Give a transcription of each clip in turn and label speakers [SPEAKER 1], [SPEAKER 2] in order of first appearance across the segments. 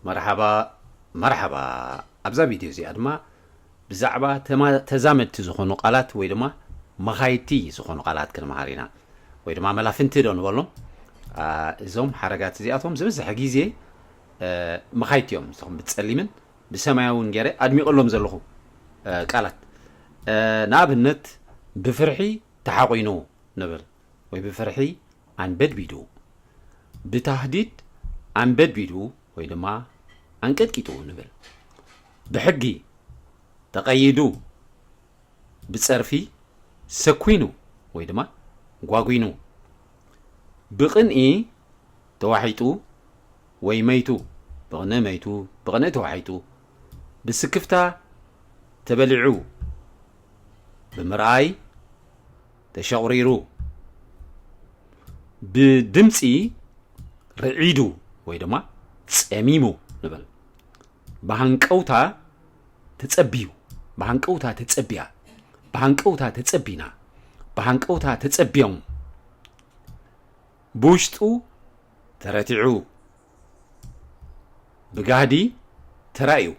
[SPEAKER 1] መርሓባ መርሓባ ኣብዛ ቪድዮ እዚኣ ድማ ብዛዕባ ተዛመድቲ ዝኾኑ ቃላት ወይ ድማ መኻይድቲ ዝኾኑ ቃላት ክንምሃር ኢና ወይ ድማ መላፍንቲ ዶ ንበሎም እዞም ሓረጋት እዚኣቶም ዝበዝሐ ግዜ መኻይድቲ እዮም እዚኹም ብፀሊምን ብሰማያውን ገይረ ኣድሚቐሎም ዘለኹ ቃላት ንኣብነት ብፍርሒ ተሓቑኑ ንብል ወይ ብፍርሒ ኣንበድቢዱ፣ ብታህዲድ ኣንበድቢዱ ወይ ድማ ኣንቀጥቂጡ ንብል። ብሕጊ ተቐይዱ፣ ብጸርፊ ሰኲኑ ወይ ድማ ጓጒኑ፣ ብቕንኢ ተዋሒጡ ወይ መይቱ፣ ብቕንኢ መይቱ፣ ብቕንኢ ተዋሒጡ፣ ብስክፍታ ተበሊዑ ብምርኣይ፣ ተሸቝሪሩ ብድምጺ ርዒዱ ወይ ድማ ጸሚሙ ንበል ብሃንቀውታ ተጸብዩ ብሃንቀውታ ተጸብያ ብሃንቀውታ ተጸቢና ብሃንቀውታ ተጸብዮም ብውሽጡ ተረቲዑ ብጋህዲ ተራእዩ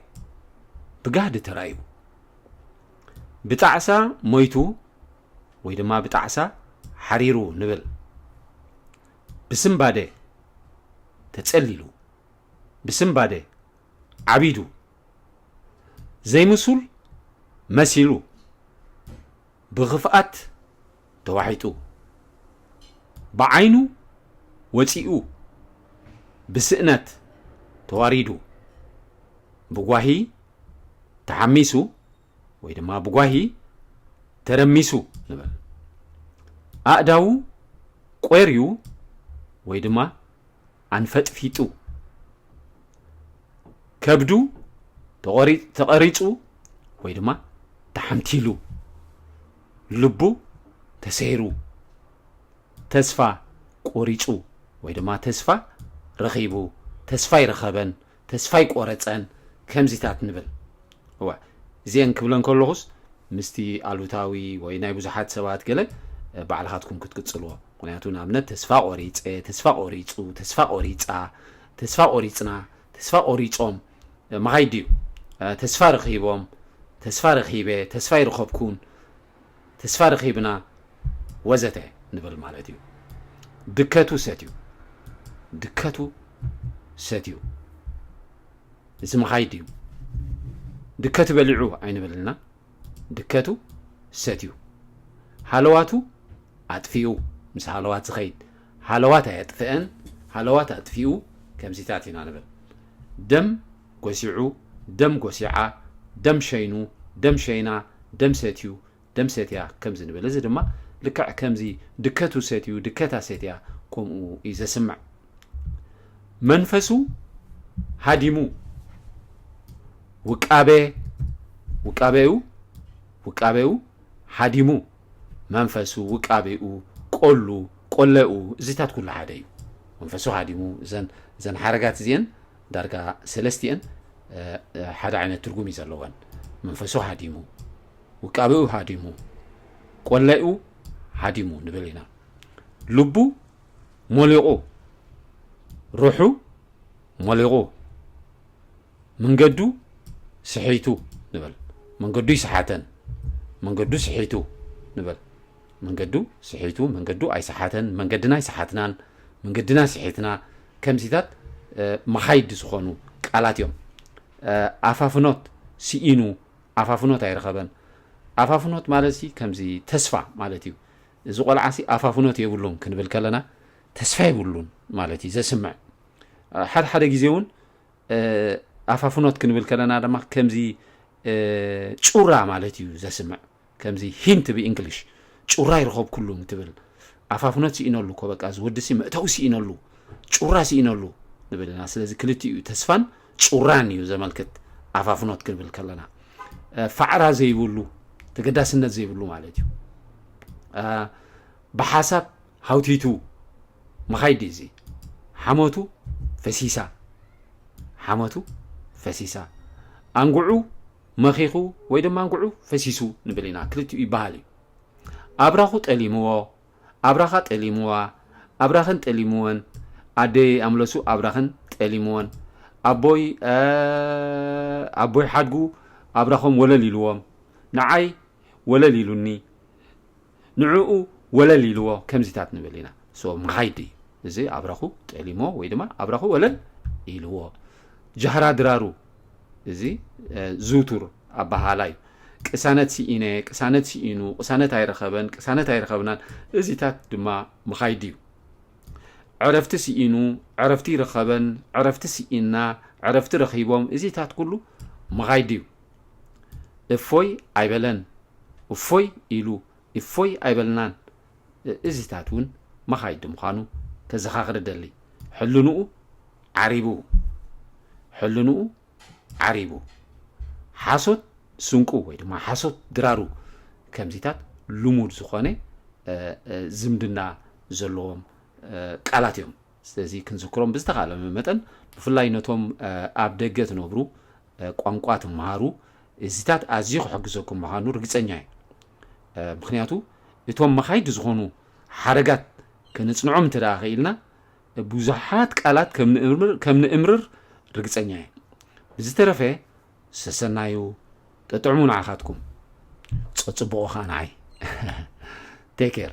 [SPEAKER 1] ብጋህዲ ተራእዩ ብጣዕሳ ሞይቱ ወይ ድማ ብጣዕሳ ሓሪሩ ንብል ብስምባደ ተጸሊሉ ብስምባደ ዓቢዱ ዘይምሱል መሲሉ ብኽፍኣት ተዋሒጡ ብዓይኑ ወጺኡ ብስእነት ተዋሪዱ ብጓሂ ተሓሚሱ ወይ ድማ ብጓሂ ተረሚሱ ንበል ኣእዳዉ ቆርዩ ወይ ድማ ኣንፈጥፊጡ ከብዱ ተቐሪጹ ወይ ድማ ተሓምቲሉ ልቡ ተሰይሩ፣ ተስፋ ቆሪጹ ወይ ድማ ተስፋ ረኺቡ፣ ተስፋ ኣይረኸበን፣ ተስፋ ኣይቆረጸን፣ ከምዚታት ንብል። እወ፣ እዚኤን ክብለን ከለኹስ ምስቲ ኣሉታዊ ወይ ናይ ብዙሓት ሰባት ገለ ባዕልኻትኩም ክትቅጽልዎ። ምኽንያቱ ንኣብነት ተስፋ ቆሪጸ፣ ተስፋ ቆሪጹ፣ ተስፋ ቆሪጻ፣ ተስፋ ቆሪጽና፣ ተስፋ ቆሪጾም፣ ማይ ድዩ ተስፋ ረኺቦም ተስፋ ረኺበ ተስፋ ኣይረኸብኩን ተስፋ ረኺብና ወዘተ ንብል ማለት እዩ ድከቱ ሰትዩ ድከቱ ሰትዩ እዚ መሃይ ድዩ ድከቱ በሊዑ ኣይንብልና ድከቱ ሰትዩ ሃለዋቱ ኣጥፊኡ ምስ ሃለዋት ዝኸይድ ሃለዋት ኣየጥፈኤን ሃለዋት ኣጥፊኡ ከምዚታት ኢና ንብል ደም ጎሲዑ ደም ጎሲዓ ደም ሸይኑ ደም ሸይና ደም ሰትዩ ደም ሰትያ ከምዚ ንብል እዚ ድማ ልክዕ ከምዚ ድከቱ ሰትዩ ድከታ ሰትያ ከምኡ እዩ ዘስምዕ መንፈሱ ሃዲሙ ውቃቤ ውቃቤኡ ውቃቤኡ ሃዲሙ መንፈሱ፣ ውቃቤኡ፣ ቆሉ፣ ቆለኡ፣ እዚታት ኩሉ ሓደ እዩ። መንፈሱ ሃዲሙ፣ እዘን እዘን ሓረጋት እዚኤን ዳርጋ ሰለስቲኤን ሓደ ዓይነት ትርጉም እዩ ዘለወን። መንፈሱ ሃዲሙ፣ ውቃቤኡ ሃዲሙ፣ ቆለኡ ሃዲሙ ንብል ኢና። ልቡ ሞሊቑ፣ ሩሑ ሞሊቑ፣ መንገዱ ስሒቱ ንበል። መንገዱ ኣይሰሓተን። መንገዱ ስሒቱ ንበል። መንገዱ ስሒቱ፣ መንገዱ ኣይሰሓተን፣ መንገድና ኣይሰሓትናን፣ መንገድና ስሒትና ከምዚታት መኻይድ ዝኾኑ ቃላት እዮም። ኣፋፍኖት ስኢኑ፣ ኣፋፍኖት ኣይረኸበን። ኣፋፍኖት ማለት ሲ ከምዚ ተስፋ ማለት እዩ እዚ ቆልዓ ሲ ኣፋፍኖት የብሉን ክንብል ከለና ተስፋ የብሉን ማለት እዩ ዘስምዕ ሓደ ሓደ ግዜ እውን ኣፋ ፍኖት ክንብል ከለና ድማ ከምዚ ጩራ ማለት እዩ ዘስምዕ ከምዚ ሂንት ብእንግሊሽ ጩራ ይረኸብኩሉ እንትብል ኣፋ ፍኖት ስኢነሉ እኮ በቃ እዚ ወዲ ሲ መእተዊ ስኢነሉ ጩራ ስኢነሉ ንብል ኢና ስለዚ ክልቲኡ ተስፋን ጩራን እዩ ዘመልክት ኣፋ ፍኖት ክንብል ከለና ፋዕራ ዘይብሉ ተገዳስነት ዘይብሉ ማለት እዩ ብሓሳብ ሃውቲቱ ምኻይድ ድዩ እዚ ሓሞቱ ፈሲሳ ሓሞቱ ፈሲሳ ኣንጉዑ መኺኹ ወይ ድማ ኣንጉዑ ፈሲሱ ንብል ኢና ክልቲኡ ይበሃል እዩ ኣብራኹ ጠሊምዎ ኣብራኻ ጠሊምዋ ኣብራኸን ጠሊምወን ኣደይ ኣምለሱ ኣብራኸን ጠሊምወን ኣቦይ ኣቦይ ሓድጉ ኣብራኾም ወለል ኢልዎም ንዓይ ወለል ኢሉኒ ንዕኡ ወለል ኢልዎ ከምዚታት ንብል ኢና። so መኻይድ እዩ እዚ ኣብራኹ ጠሊሞ ወይ ድማ ኣብራኹ ወለል ኢልዎ። ጃህራ ድራሩ እዚ ዝውቱር ኣበሃህላ እዩ። ቅሳነት ስኢነ፣ ቅሳነት ስኢኑ፣ ቅሳነት ኣይረኸበን፣ ቅሳነት ኣይረኸብናን እዚታት ድማ መኻይድ እዩ። ዕረፍቲ ስኢኑ፣ ዕረፍቲ ይረኸበን፣ ዕረፍቲ ስኢና፣ ዕረፍቲ ረኺቦም እዚታት ኩሉ መኻይድ እዩ። እፎይ ኣይበለን እፎይ ኢሉ እፎይ ኣይበልናን እዚታት እውን መኻይዲ ምዃኑ ከዘኻኽር እደሊ ሕልንኡ ዓሪቡ ሕልንኡ ዓሪቡ ሓሶት ስንቁ ወይ ድማ ሓሶት ድራሩ ከምዚታት ልሙድ ዝኾነ ዝምድና ዘለዎም ቃላት እዮም ስለዚ ክንዝክሮም ብዝተኻእለ መጠን ብፍላይ ነቶም ኣብ ደገ ትነብሩ ቋንቋ ትመሃሩ እዚታት ኣዝዩ ክሕግዘኩም ምዃኑ ርግጸኛ እየ ምክንያቱ እቶም መኻይድ ዝኾኑ ሓረጋት ከነጽንዖም እንተ ደኣ ክኢልና ብዙሓት ቃላት ከም ንእምርር ርግጸኛ እየ ብዝተረፈ ሰሰናዩ ጠጥዕሙ ንዓኻትኩም ጸጽቡቑ ኸኣ ንዓይ ቴክ ኬር